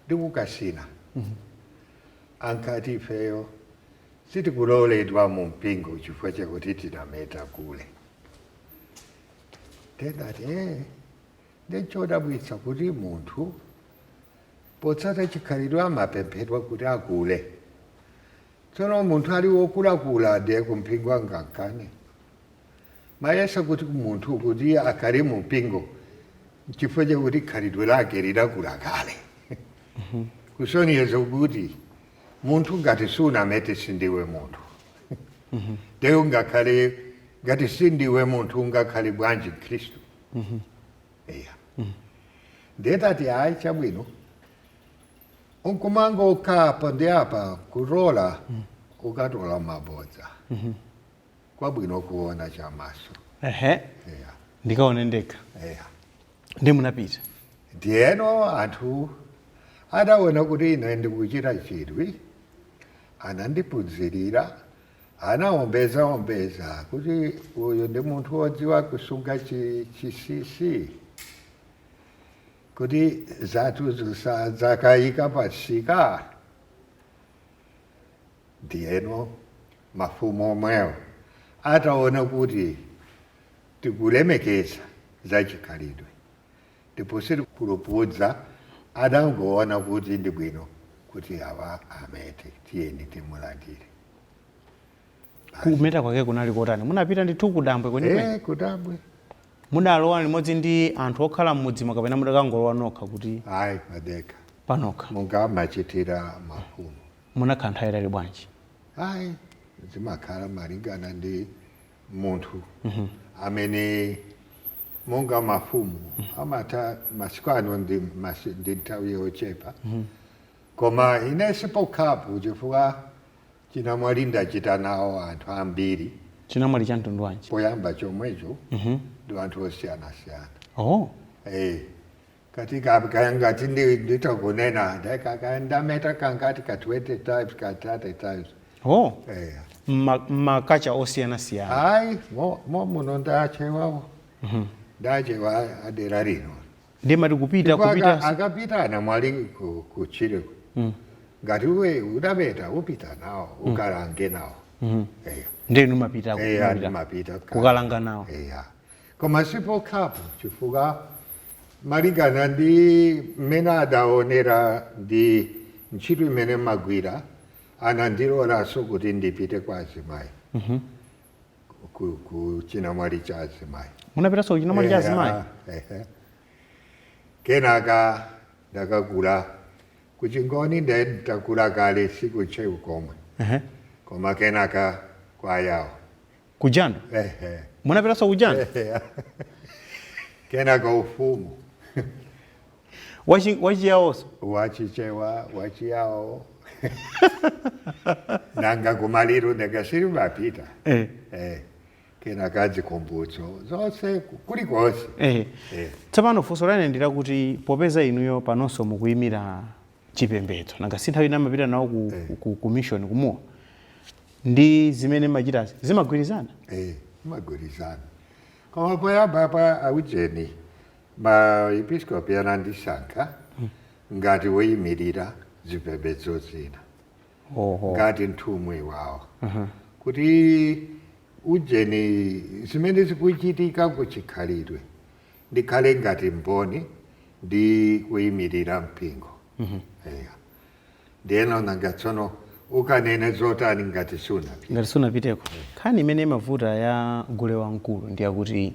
ndi ku Kasina ankati ifeyo sitikuloledwa mu mpingo chifukwa chakuti tinameta gule. Ndiye ndati ee, ndiye nchodabwitsa kuti munthu potsata chikhalidwe amapemphedwa kuti agule. Tsono munthu ali wokulakula kale ku mpingo angakane? Mayesa kuti munthu kuti akhale mu mpingo nchifukwa chakuti khalidwe lake lidakula kale kusonyeza kuti munthu ngati sunamete sindiwe munthu nde ungakhale ngati sindiwe munthu ungakhale bwanji mkhristu eya ndiye tati ayi chabwino ukamangomva apo ndi apa ukatola ukatola mabodza kwabwino kuona chamaso ehe eya. ndikaone ndekha eya. nde munapita ndiyeno anthu adaona kuti ine ndikuchita chidwi anandiphunzirira anaombeza ombeza kuti uyu ndi munthu wodziwa kusunga chi- chisisi Kuti zathuzo sadzakaika pamsika. Ndiyeno mafumu omwewo ataona kuti tikulemekeza zachikhalidwe ndipo sitikupulupudza, adangoona kuti ndi bwino kuti awa amete, tiyeni timulandire. Kumeta kwake kunali kotani? Munapita ndithu kudambwe kwenikweni? Eh, kudambwe. Mudalowa limodzi ndi anthu okhala m'mudzimo kapena mudakangolowa nokha kuti? Ayi, padekha. Panokha. Monga amachitira mafumu. Munakhala nthawi yayitali bwanji? Ayi, zimakhala malingana ndi munthu mm -hmm. amene monga mafumu mm -hmm. ameta masiku ano ndi, mas, ndi nthawi yochepa mm -hmm. koma ine sipokhapo chifukwa Chinamwali ndachita nawo anthu ambiri. Chinamwali cha mtundu wanji? Koyamba komweko ndi anthu osiyanasiyana. Oh. Eh, kati ka- kaya ngati ndi- nditha kunena nda- ka- kaya ndameta kangati ka 20 times ka 30 times Oh. eh. Mma- M'makacha osiyanasiyana. hayi momwe muno ndachewawo ndachewa adera lino ndiye amati kupita Ndipo aka- kupita akapita anamwali ku- kutchire ngati iwe udameta upite nawo ukalange nawo Eya. ndiye inu mapita Eya, kumapita. ndimapita kale. kukalanga nawo Eya. koma sipokhapo chifukwa malingana ndi mmene adaonera ndi ntchito imene ndimagwira anandilolanso kuti ndipite kwa azimayi ku- kuchinamwali cha azimayi munapitanso kuchinamwali cha azimayi Eh, ehe. kenaka ndakakula kuchingoni nde ndakula kale si ku Chewa komwe Ehe. koma kenaka kwayawo kujando Ehe. munapitanso kujando kenaka ufumu Wachi- wachiyawoso wachichewa wachiyawo nanga kumaliru ndakasiri mapita Eh. eh, kena kadzi kumbutso zonse kulikonse Eh. Eh. tsopano funso lake ndi lakuti popeza inuyo panonso mukuyimira chipembedzo nanga si nthawi ina amapita nawo ku, Eh. ku, ku mission ku Mua ndi zimene mumachitazi zimagwirizana Eh, zimagwirizana koma poyamba pa aujeni Maepiskopi anandisankha ngati woyimirira zipembedzo zina, Oho. ngati nthumwi wawo kuti ujeni zimene zikuchitika ku chikhalidwe ndikhale ngati mboni ndi kuyimirira mpingo. Eya. Ndiyeno nanga tsono ukanene zotani ngati sunapite? ngati sunapiteko nkhani imene imavuta ya gule wamkulu ndi yakuti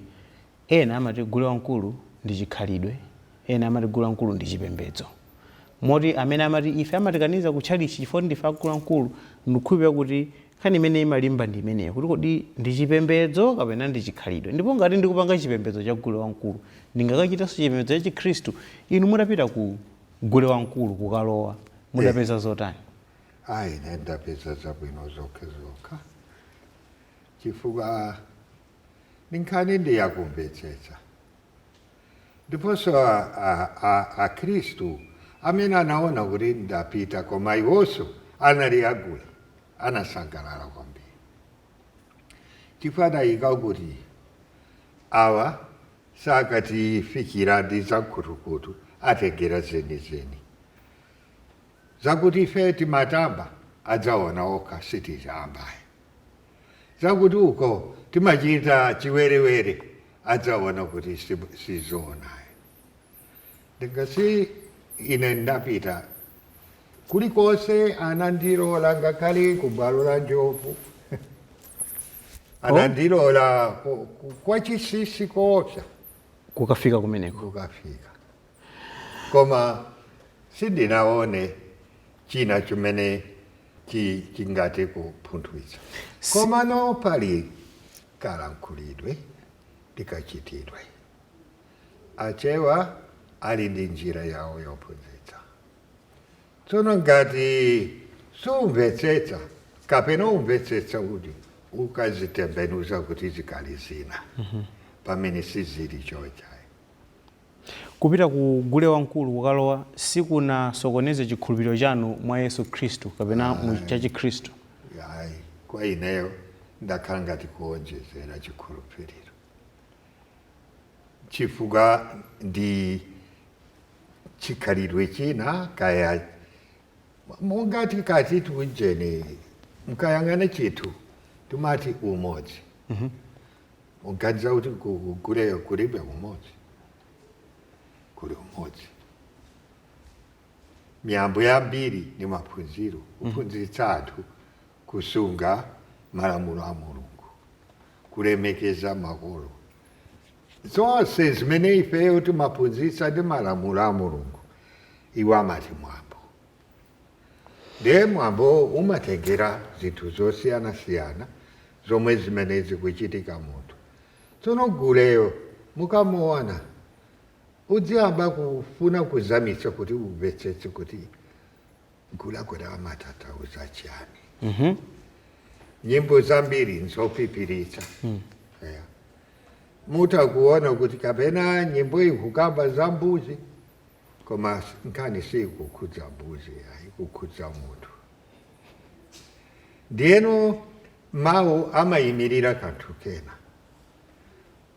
Ena amati gule wamkulu ndi chikhalidwe, ena amati gule wamkulu ndi chipembedzo. Moti amene amati ife amatikaniza ku tchalitchi chifukwa kuti ndife a gule wamkulu, ndikukhulupirira kuti nkhani imene imalimba ndi imeneyo, kuti kodi ndi chipembedzo kapena ndi chikhalidwe? Ndipo ngati ndikupanga chipembedzo cha gule wamkulu, ndingakachitenso chipembedzo cha Chikhristu? Inu mudapita ku gule wamkulu kukalowa, mudapeza zotani? Ah, ine ndapeza zabwino zokhazokha chifukwa. nkhani ndi yakumvetsetsa. Ndiponso a, a, a, Akhristu amene anaona kuti ndapita koma iwonso anali agule anasangalala kwambiri chifukwa adati kuti awa sakutifikira ndi zam'khutukhutu atengera zenizeni zakuti ife timatamba adzaona okha sititamba ayi zakuti uko timachita chiwerewere adzaona kuti si zoona ayi nanga si ine ndapita kulikonse anandilola ngakhale kubwalo la njovu anandilola oh. kwa chisisi koopsa kukafika kumeneko kukafika Koma sindinaone china chimene chi- chingathe kupunthwitsa. Komano pali kalankhulidwe ndi kachitidwe. Achewa ali ndi njira yawo yophunzitsa. Tsono ngati sumvetsetsa kapena umvetsetsa kuti ukazitembenuza kuti zikhale zina pamene sizili choncho ayi. Kupita ku gule wamkulu kukalowa sikunasokoneze chikhulupiriro chanu mwa Yesu Khristu kapena mu Chikhristu. Ayi. Kwa ineyo ndakhala ngati kuonjezera chikhulupiriro chifukwa ndi chikhalidwe china kaya mungati tikati tiunjeni mkayang'ane chithu timati umodzi. muganiza kuti ku- ku guleyo kulibe umodzi kuli umodzi miyambo yambiri ni maphunziro kuphunzitsa anthu kusunga malamulo a mulungu kulemekeza makolo zonse zimene ifeyo timaphunzitsa ndi malamulo a mulungu iwo amati mwambo Ndiye mwambowo umatengera zinthu zosiyanasiyana zomwe zimene zikuchitika munthu. Tsono guleyo mukamuona uziyamba kufuna kuzamitsa kuti umvetsetse kuti gule kuti amatanthauza chiyani. Nyimbo zambiri nzophiphiritsa. Eya. Mutha kuona kuti kapena nyimbo ikukamba za mbuzi Koma nkhani sikukhudza mbuzi ayi, ikukhudza munthu. Ndiyeno mawu amayimirira kanthu kena.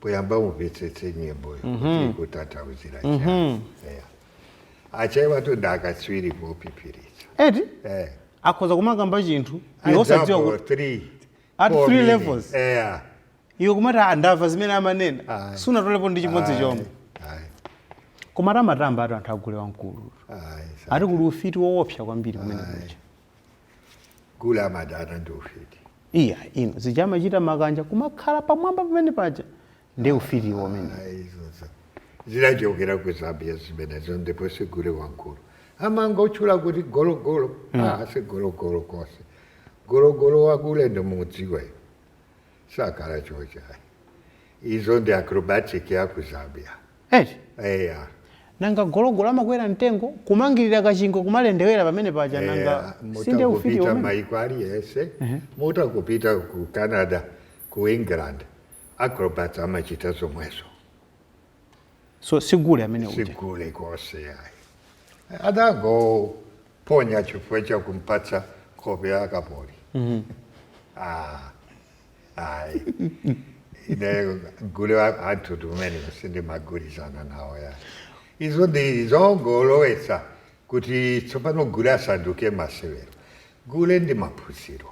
Poyamba umvetsetse nyimboyo kuti ikutanthauzira chiyani. Eya. Achewatu ndi akatswiri pophiphiritsa. eti Eh. akhoza kumakamba chinthu iwe osadziwa Example kuti three, at four three meaning. levels. Eya. iwe kumati "Ah, ndamva zimene amanena Ayi. sunatolepo ndi chimodzi chomwe Ayi, koma timamva ati anthu agule wamkulu ayi, sa- ati kuli ufiti woopsa kwambiri kumene kuja gule amadana ndi ufiti iya ino zija amachita makanja kumakhala pamwamba pamene paja ndi ufiti womene Ayi, izo zidachokera ku zambia zimenezo ndipo sigule wamkulu amangotchula kuti gologolo ah, si gologolo konse gologolo wagule ndimudziwa iwe sakhala choncho izo ndi acrobatic ya ku zambia eti eya nanga gologolo amakwera mtengo kumangirira kachingwe kumalendewera pamene paja nanga sinde ufiti umene mutangopita maiko aliyese mutangopita ku canada ku england acrobats amachita zomwezo so sigule amene uja sigule konse ayi adangoponya chifukwa cha kumpatsa nkhope ya kapoli Ah, ayi ine gule wa- anthu amene sindimagwirizana nawo yayi izo ndi zongolowetsa kuti tsopano gule asanduke masewero gule ndi maphunziro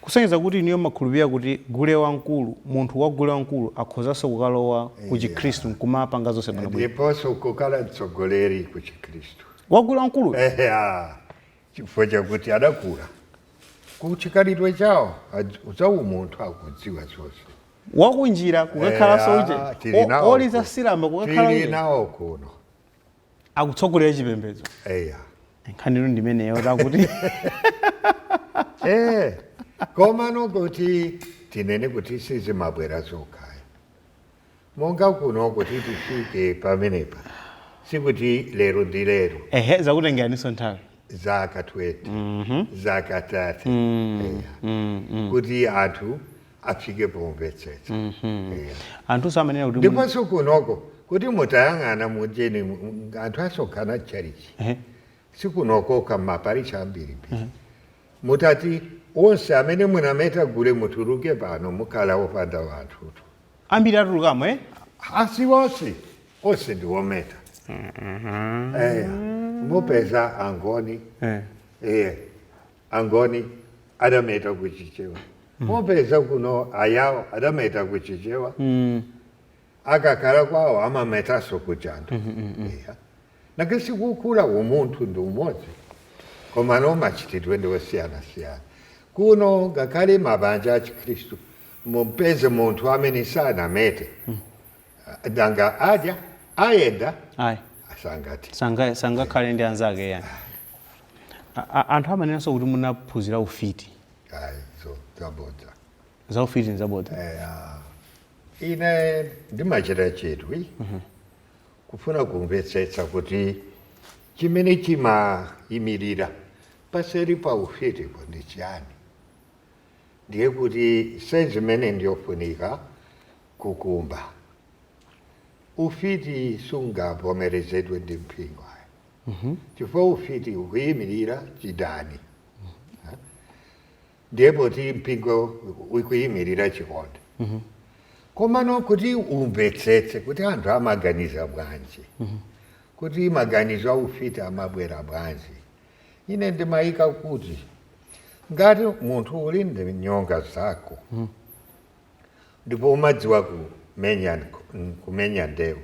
Kusonyeza kuti inuyo mumakhulupirira kuti gule wamkulu, munthu wa gule wamkulu akhozanso kukalowa ku chikhristu Yeah. nkumapanga zonse bwino bwino. Ndiponso nkukhala mtsogoleri ku chikhristu. Wa gule wamkuluyo. Eya. Chifukwa chakuti adakula ku chikhalidwe chawo adz- za umunthu akudziwa zonse. Wa kunjira kukakhalanso uje. Eya, tili O- nawo Oliza kuno. silamba kukakhala Tili uje. nawo kuno. akutsogolera chipembedzo eya nkhanitu ndimeneyo takuti eh komano kuti tinene kuti sizimabwera zokhaya monga kuno kuti tifike pamenepa sikuti lero ndi lero ehe zakutengeraninso nthawi zaka 20 zaka 30 Eya. kuti anthu afike pomvetsetsa Eya. anthunso amanena kuti mu- ndiponso kunoko kuti mutayang'ana mujeni m- anthu asonkhana chalichi Ehe. si kuno kokha maparishi ambirimbiri mutati onse amene munameta gule mutuluke pano mukhala opanda wanthutu ambiri atulukamo eh? asi onse onse ndi ometa Eya. mupeza angoni Eh. Eya. angoni adameta ku chichewa mupeza kuno ayawo adameta ku chichewa Mm. akakhala kwawo amametanso ku jando Eya. nakesi kukula umunthu ndi umodzi komano machitidwe ndi osiyanasiyana kuno ngakhale mabanja a chikhristu mumpeze munthu amene sanamete Ah, nanga adya ayenda ayi sangati sanga- sangakhale ndi anzake yani A- a- anthu amanenanso kuti munaphunzira ufiti ayi so zabodza za ufiti nzabodza ine ndimachita chidwi kufuna kumvetsetsa kuti chimene chimayimirira paseri pa ufitipo ndi chiyani ndiye kuti zimene ndiyofunika kukumba. Ufiti sungavomerezedwe ndi mpingo ayi chifukwa ufiti ukuyimirira chidani. Ndiye poti mpingo ukuyimirira chikondi, komano kuti umvetsetse kuti anthu amaganiza bwanji, kuti maganizo a ufiti amabwera bwanji, ine ndimayika kuti ngati munthu uli ndi nyonga zako ndipo umadziwa kumenya nk- kumenya ndewu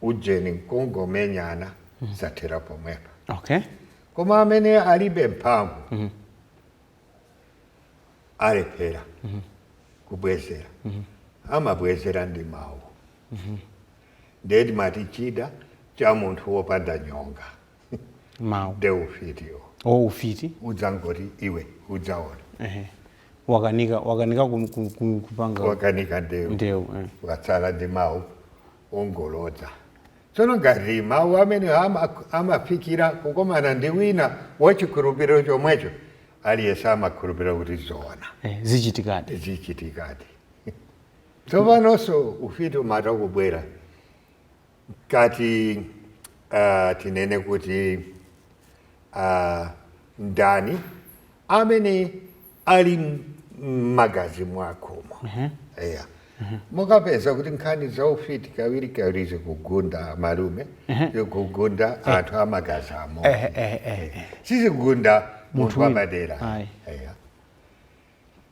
ujeni nkungomenyana zathera pomwepo okay koma amene alibe mphamvu alephera kubwezera amabwezera ndi mawu nde timati chida cha munthu wopanda nyonga mawu nde ufitiwo o ufiti udzangoti iwe udzaona ehe wakanika wakanika kum- kum- kum- kupanga wakanika ndewu ndewu eh. watsala ndi mawu ongolodza tsono ngati mawu amene ama- amafikira kukomana ndi wina wachikhulupiriro chomwecho aliyense amakhulupirira kuti zoona eh, zichitikadi zichitikadi tsopanonso ufiti umatha kubwera Ngati ah, tinene kuti ah, ndani amene ali m- m'magazi mwakomo eya mukapeza kuti nkhani za ufiti kawiri kawiri zikugunda malume zikugunda anthu amagazi amodzi Eh, eh, eh, eh. sizigunda munthu Munthu wina. wapadera Ayi. eya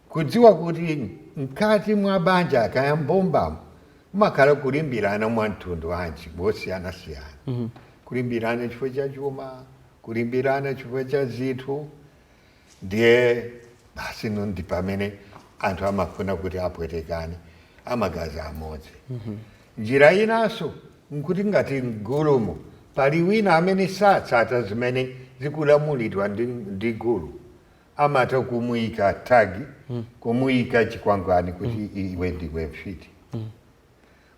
Kudziwa kuti mkati mwa banja kaya mbumbamo mumakhala kulimbirana mwa mtundu wanji wosiyanasiyana mm -hmm. kulimbirana chifukwa cha chuma kulimbirana chifukwa cha zinthu ndiye basi no ndi pamene anthu amafuna kuti apwetekane amagazi amodzi mm -hmm. njira inanso nkuti ngati mgulumo pali wina amene satsata zimene zikulamulidwa ndi, ndi gulu amatha kumuika tag kumuika chikwangwani kuti iwe ndiwe mfiti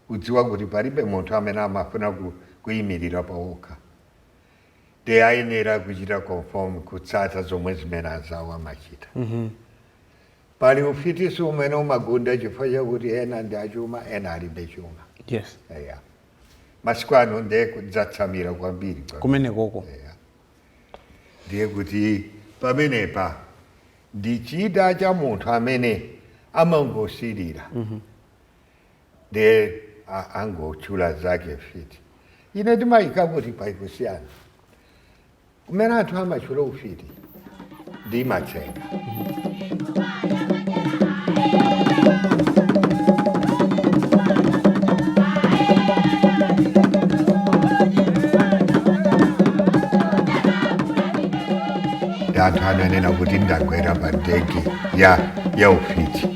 kudziwa kuti palibe munthu amene amafuna ku, kuyimirira payekha nde ayenera kuchita conform kutsata zomwe zimene anzawo amachita pali ufiti umene umagunda chifukwa chakuti ena ndi achuma ena alibe chuma yes eya masiku ano ndiye wadzatsamira kwambiri pa- kumenekoko eya ndiye kuti pamenepa ndi chida cha munthu amene amangosilira ndiye a- angotchula nzake mfiti ine ndimayika kuti pali kusiyana kumene anthu amatchula ufiti ndi matsenga ndi anthu ananena kuti ndagwera pa ndege ya ya ufiti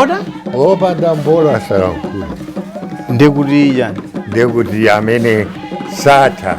oda opanda mbolo asalankhula ndikuti iyayi ndekuti amene satha